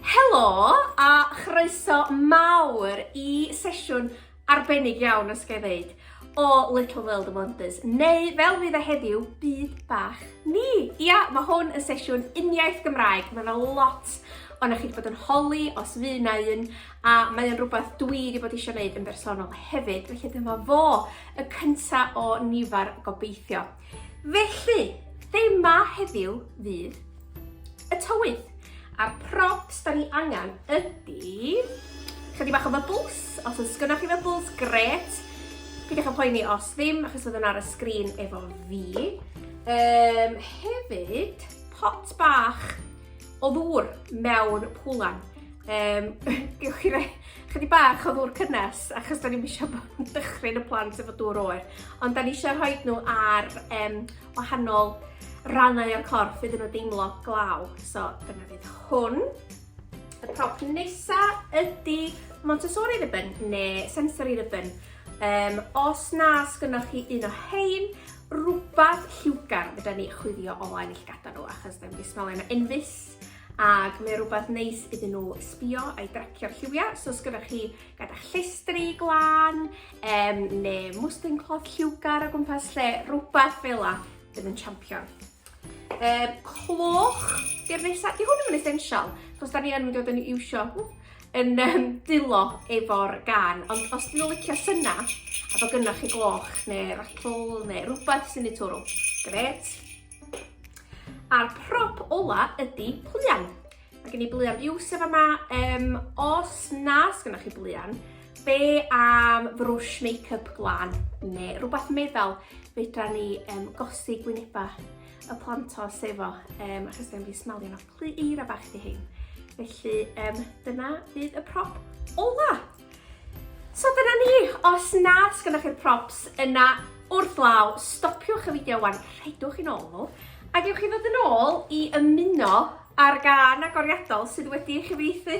Helo a chroeso mawr i sesiwn arbennig iawn os ga i ddeud o Little World of Wonders, neu fel fydd e heddiw, byd bach ni. Ia, mae hwn yn sesiwn uniaith Gymraeg, mae yna lot ond chi wedi bod yn holi os fu na un, a mae o'n rhywbeth dwi wedi bod eisiau gwneud yn bersonol hefyd, felly dyma fo, y cyntaf o nifar gobeithio. Felly, thema heddiw fydd y tywydd. A'r props da ni angen ydy... Chydig bach o bubbles, os oes gynnwch chi bubbles, gret. Pidwch yn poeni os ddim, achos oedd yn ar y sgrin efo fi. Um, hefyd, pot bach o ddŵr mewn pwlan. Um, gewch chi rei chydig bach o ddŵr cynnes, achos da ni'n eisiau dychryn y plant efo dŵr oer. Ond da ni eisiau rhoi nhw ar um, wahanol rannau o'r corff iddyn nhw deimlo glaw. So dyna fydd hwn. Y prop nesa ydy Montessori ribbon neu sensory ribbon. Um, os na sgynnoch chi un o hein, rwbath lliwgar fedra ni chwifio o flaen y llygada nhw achos ddim wedi smelio nhw unfus ac mae rhywbeth neis iddyn nhw sbio a'i dracio'r lliwiau. So os gyda chi gyda llestri glan um, neu mwstin cloth lliwgar o gwmpas lle, rhywbeth fel la, bydd yn champion. Um, cloch, di'r nesaf, di hwn yn mynd essential, chos da ni yn mynd i fod yn iwsio yn um, dilo efo'r gan, ond os dwi'n licio syna, a bod gynnwch chi gloch neu rattle neu rhywbeth sy'n ei twrw, gret. A'r prop ola ydy pluan. Mae gen i blian biws efo yma. Um, os na sgynnoch chi blian, be am frwsh make-up glan neu rhywbeth meddal fedra ni um, gosi gwynebau y plantos efo, um, achos dyn fi smalio nhw. Rhy eira bach di hyn. Felly, um, dyna fydd y prop ola. So dyna ni, os nad sgynnoch chi'r props yna wrth law, stopiwch y fideo wan, rhedwch i'n ôl nhw, a gewch chi ddod yn ôl i ymuno ar gan agoriadol sydd wedi ei chyfeithi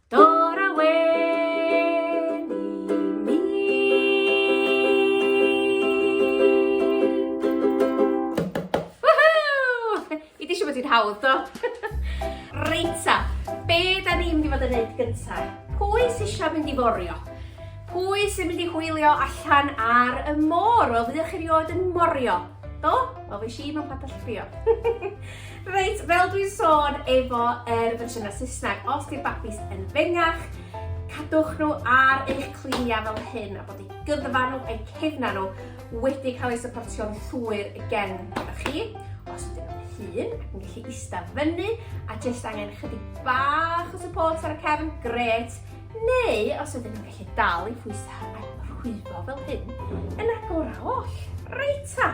Dora Wen i mi. Woohoo! I di siw bod ti'n hawdd, do? Reita, be da ni'n mynd i fod yn neud gyntaf? Pwy sy'n eisiau mynd i forio? Pwy sy'n mynd i hwylio allan ar y môr? Wel, fyddwch chi rioed yn morio. Do? Wel, fi si mewn padell trio. Reit, fel dwi'n sôn efo yr er fersiynau Saesneg, os di'r babis yn fengach, cadwch nhw ar eich cliniau fel hyn a bod eu gyddfa nhw eu cefna nhw wedi cael eu supportio'n llwyr gen gyda chi. Os ydyn nhw'n hun ac yn gallu ista fyny a jyst angen chydig bach o support ar y cefn, gret. Neu os ydyn nhw'n gallu dal i phwysau a rhwyfo fel hyn, yn agor a oll. Reit ta!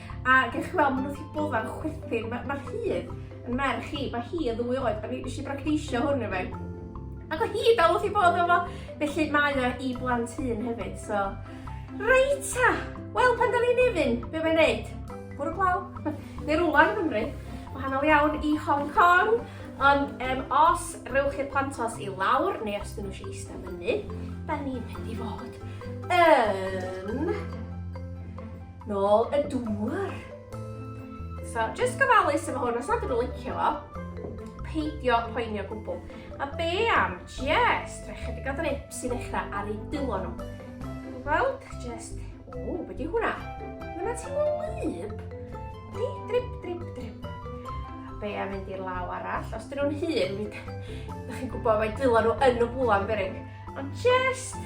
A gech chi weld, maen nhw wedi bod yn chwerthin. Mae'r ma rhydd yn merch i, mae hi yn ddwy oed, a mi eisiau bragdeisio hwn i fe. Ac o hi dal wrth i bod efo. Felly mae o i blant hun hefyd, so... Reit ta! Wel, pan da ni'n nefyn, be mae'n neud? Bwrw glaw? Neu rwla yn Gymru. Wahanol iawn i Hong Kong. Ond um, os rewch i'r plantos i lawr, neu os dyn nhw eisiau eistedd fyny, da ni'n mynd i fod yn... Nôl y dŵr. So, just gofalus efo hwn, os nad ydw licio fo, peidio poeni o gwbl. A be am just rhoi chydig o drips i ddechrau ar ei dwylo nhw. Gweld, just, o, beth yw hwnna? Hwnna ti'n mynd lyb? Di, drip, drip, drip. A be am mynd i'r law arall? Os dyn nhw'n hun, ydych chi'n gwybod mae dwylo nhw yn y bwlan berig. Ond just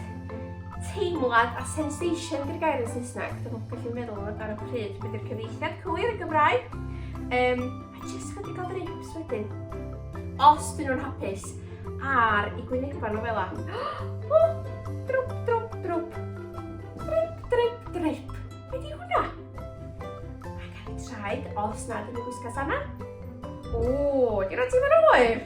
teimlad a sensation gyda gair yn Saesneg. Dwi'n nhw'n gallu meddwl ar y pryd beth yw'r cyfeithiad cywir yn Gymraeg. Um, a jyst chydig o ddrips wedyn. Os dyn nhw'n hapus ar i gwynebau nhw fel la. drwp, drwp, drwp. Drip, drip, drip. Be di hwnna? A gael ei traed os nad yn y gwisga sana. O, di roi ti'n mynd oer.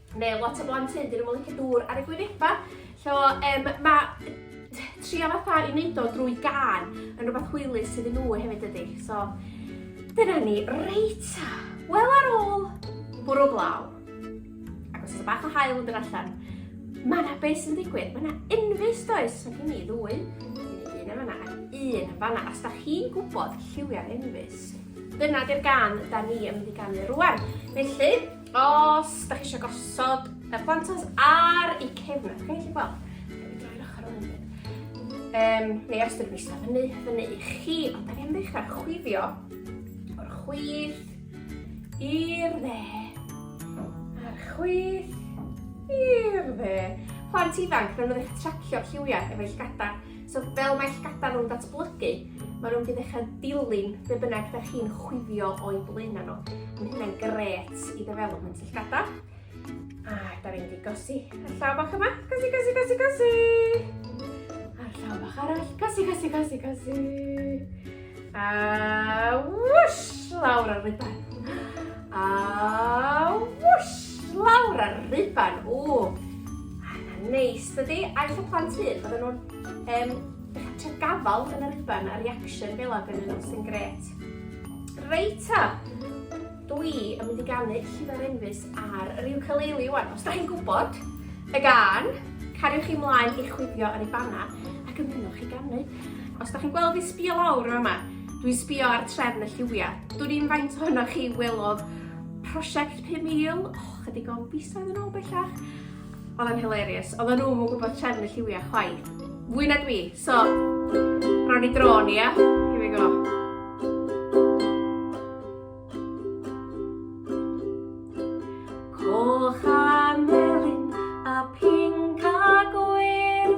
Mae lot o blant hyn, dyn nhw'n licio dŵr ar y gwynebau. So, um, mae trio fatha i wneud o drwy gan yn rhywbeth hwylus sydd yn nhw hefyd ydy. So, dyna ni. Reit, wel ar ôl bwrw glaw, ac os yna bach o hael yn dod allan, mae yna beth sy'n digwydd. Mae yna unfus does, so gen i ddwy, un yn fanna, un yn fanna. Os da chi'n gwybod lliwiau'r unfus, dyna di'r gan da ni yn mynd i ganu rwan. Felly, Os da chi eisiau gosod y plantos ar y cefn, da chi'n gallu gweld? Um, neu os ydych chi'n eistedd fyny, fyny i chi, ond da ni'n ddechrau chwifio o'r chwith i'r dde, a'r chwith i'r dde. Plant ifanc, rydyn nhw'n eich tracio lliwiau efo eich gadar. So fel mae llygadau nhw'n datblygu, maen nhw'n mynd i ddechrau dilyn be bynnag da chi'n chwifio o'i blaenau nhw. Mae hynna'n gret i ddevelopment y llygadau. A da ni'n mynd i gosi y llaw bach yma. Gosi, gosi, gosi, gosi! A'r llaw bach arall. Gosi, gosi, gosi, gosi! A whoosh! Lawr ar riban. A whoosh! Lawr ar riban. O! Neis, dydy? Aeth y plant hyd, oedden nhw'n um, trio gafal yn y riban a reaction fel ag yn nhw sy'n gret. Reit ta! Dwi yn mynd i ganu Llifer Enfys ar yr ukulele wan. Os da chi'n gwybod y gan, cariwch chi mlaen i chwifio yn ei banna ac ymunwch chi ganu. Os da chi'n gweld fi sbio lawr yma, dwi'n sbio ar trefn y lliwiau. Dwi'n i'n faint ohonoch chi welodd prosiect 5,000, oh, chydig o'n fisoedd yn ôl bellach. Oedd yn hilarious. Oedd nhw yn gwybod trefn y lliwiau chwaith. Fwy na dwi. So, ro'n i drôn, ia? Here we go. Coch a melyn a pink a gwyn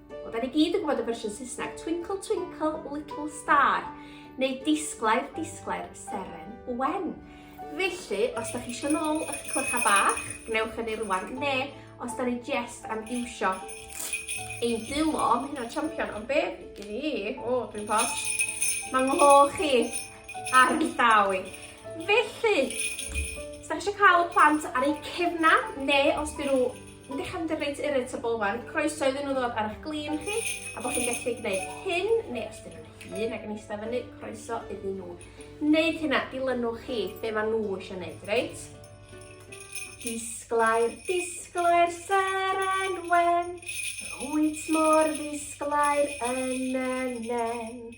Wel, da ni gyd yn gwybod y fersiwn Saesneg, Twinkle Twinkle Little Star, neu Disglair Disglair Seren Wen. Felly, os da chi eisiau nôl eich clycha bach, gwnewch hynny rwan, ne, os da ni jest am iwsio ein dilo, mae hynna'n champion, ond be, i ni, o, dwi'n posh, mae nghoch chi ar y llawr. Felly, os da chi eisiau cael y plant ar eu cefna, neu os dyn nhw yn dechrau mynd yn reit irritable wan, croeso iddyn nhw ddod ar eich glin chi, a bod chi'n gallu gwneud hyn, neu os dyn nhw'n hun ac yn eistedd fyny, croeso iddyn nhw. Wneud hynna, dilynwch chi be maen nhw eisiau gwneud, reit? Disglair, disglair, seren wen, rwyt mor ddisglair yn y nen.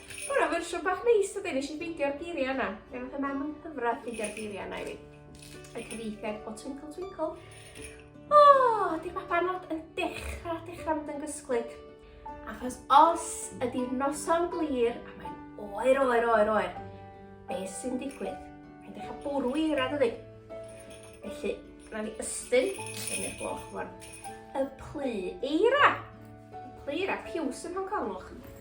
Ma' wnna'n fersiwn bach neis dydi? Nesh i ffeindio'r geiria' yna. Mi nath y mam yn nghyfradd ffeindio'r geiria' yna i fi. Y cyfieithiad o Twinkle Twinkle. O, oh, di'r babanod yn dechra, dechra mynd yn gysglyd. Achos os ydy'r noson glir a mae'n oer, oer, oer, oer, be sy'n digwydd? Mae'n dechrau bwrw i eira, dydy? Felly, rhaid ni ystyn, ystyn i'r gloch fwan, y plu eira. Y plu eira, piws yn Hong Kong, lwch.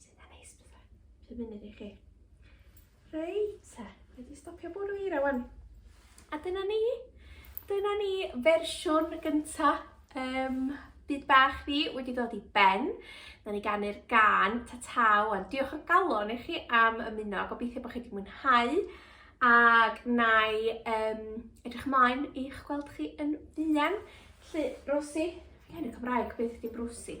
Sy'n dda neis bethau. Pum munud i chi. Reit te, wedi stopio bwrw i rawan. A dyna ni. Dyna ni fersiwn gynta um, byd bach ni wedi dod i ben. Na ni ganu'r gan ta ta wan. Diolch o galon i chi am ymuno. Gobeithio bod chi wedi mwynhau. Ac na i um, edrych ymlaen i'ch gweld chi yn fuan. Lly, Rosi, fi hyn y Cymraeg, beth di Rosi?